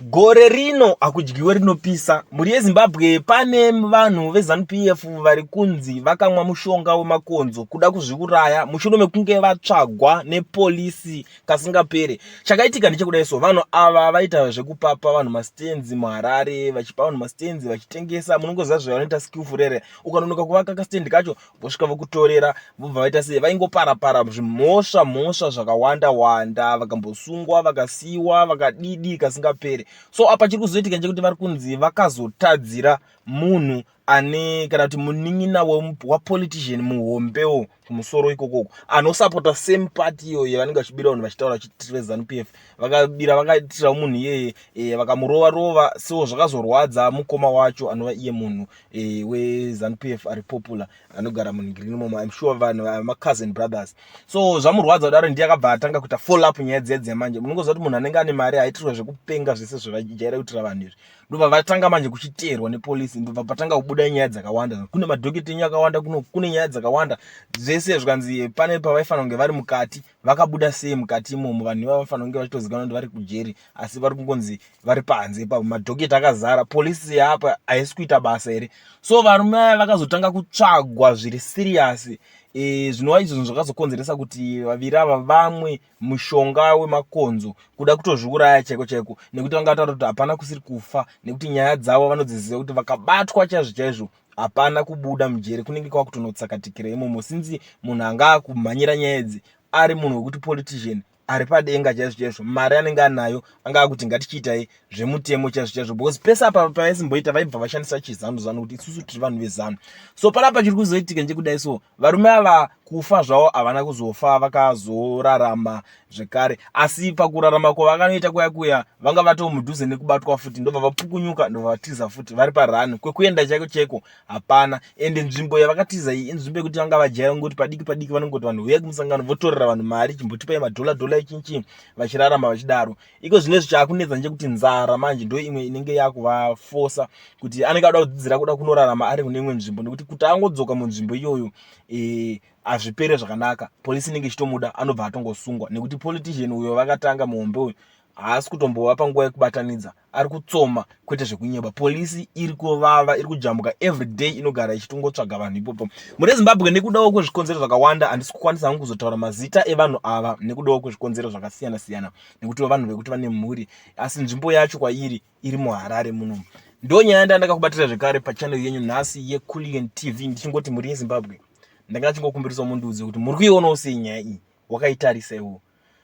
Gore rino hakudyiwe rinopisa. Mhuri yeZimbabwe pane vanhu veZanu PF vari kunzi vakamwa mushonga wemakonzo kuda kuzviuraya mushure mekunge vatsvagwa nepolisi kasingapere. Chakaitika ndechekudai so vanhu ava vaita zvekupapa vanhu masitenzi muHarare vachipa vanhu masitenzi vachitengesa munongoziva zvavanoita skillful rere. Ukanonoka kuvaka kasitendi kacho vosvika vokutorera vobva vaita sei vaingopara para zvimhosva mhosva zvakawanda wanda vakambosungwa vakasiiwa vakadidi kasingapere so apa chiri kuzoitika chekuti vari kunzi vakazotadzira munhu ane kana kuti munin'ina wapolitician muhombewo kumusoro ikokoko anosapota same party iyoyo vanenge vachibira vanhu vachitaura vachiti vezanup f vakabira vakaitirawo munhu iyeye e, vakamurova rova so zvakazorwadza mukoma wacho anova iye munhu eh, wezanupf ari popular anogara munhingiriri momo im sure vanhu macousin brothers so zvamurwadza kudaro ndiye akabva atanga kuita follow up nyaya dziya dziya manje munongoziva kuti munhu anenge ane mari haitirwa zvekupenga zvese zvevajaira kuitira vanhu izvi ndobva vatanga manje kuchiteerwa nepolisi ndobva patanga kubuda nyaya dzakawanda kune madhokita enyu akawanda kune nyaya dzakawanda zvese zvikanzi pane pavaifanira kunge vari mukati vakabuda sei mukati imomo vanhu ivava vanofanira kunge vachitozikanwa kuti vari kujeri asi vari kungonzi vari panze ipapo madhoketi akazara polisi yaapa haisi kuita basa here so varume aya vakazotanga kutsvagwa zviri siriyasi e, zvinova izvo zvinhu zvakazokonzeresa kuti vaviri ava vamwe mushonga wemakonzo kuda kutozviuraya chaiko chaiko nekuti vanga vataura kuti hapana kusiri kufa nekuti nyaya dzavo vanodziziva kuti vakabatwa chaizvo chaizvo hapana kubuda mujeri kunenge kwakutonotsakatikira imomo since munhu anga akumhanyira nyaya idzi ari munhu wekuti politician ari padenga chaizvo chaizvo mari anenge anayo anga akuti ngatichiitai zvemutemo chaizvo chaizvo because pese apa pavaisimboita vaibva vashandisa chizanu zanu kuti isusu tiri vanhu vezanu so panapa chiri kuzoitika nje kudai so varume ava kufa zvavo havana kuzofa vakazorarama zvekare asi pakurarama kwavakanoita kuya kuya vanga vatomudhuze nekubatwa futi ndobva vapukunyuka ndobva vatiza futi vari parani kwekuenda chaiko chaiko hapana ende nzvimbo yavakatiza iyi inzvimbo yekuti vanga vajaira ngoti padiki padiki vanongoti vanhu huyai kumusangano votorera vanhu mari chimbotipai madhola dhola ichinchi vachirarama vachidaro iko zvine zvichakunetsa nje kuti nzara manje ndo imwe inenge yakuvafosa kuti anenge ada kudzidzira kuda kunorarama ari kune imwe nzvimbo nekuti kuti angodzoka munzvimbo iyoyo eh, hazvipere zvakanaka polisi inenge ichitomuda anobva atongosungwa nekuti politician uyo vakatanga muhombe uyu haasi kutombova panguva yekubatanidza ari kutsoma kwete zvekunyeba polisi iri kuvava iri kujambuka everyday inogara ichitongotsvaga vanhu ipopo mune zimbabwe nekudawo kwezvikonzero zvakawanda handisi kukwanisa hangu kuzotaura mazita evanhu ava nekudawo kwezvikonzero zvakasiyana siyana nekuti vanhu vekuti vane mhuri asi nzvimbo yacho kwairi iri muharare muno ndo nyaya yanda ndakakubatira zvekare pachannel yenyu nhasi yeculian tv ndichingoti mhuri yezimbabwe ndanga ndachingokumbirisawo mundiudze kuti muri kuionawo sei nyaya iyi wakaitarisa iwo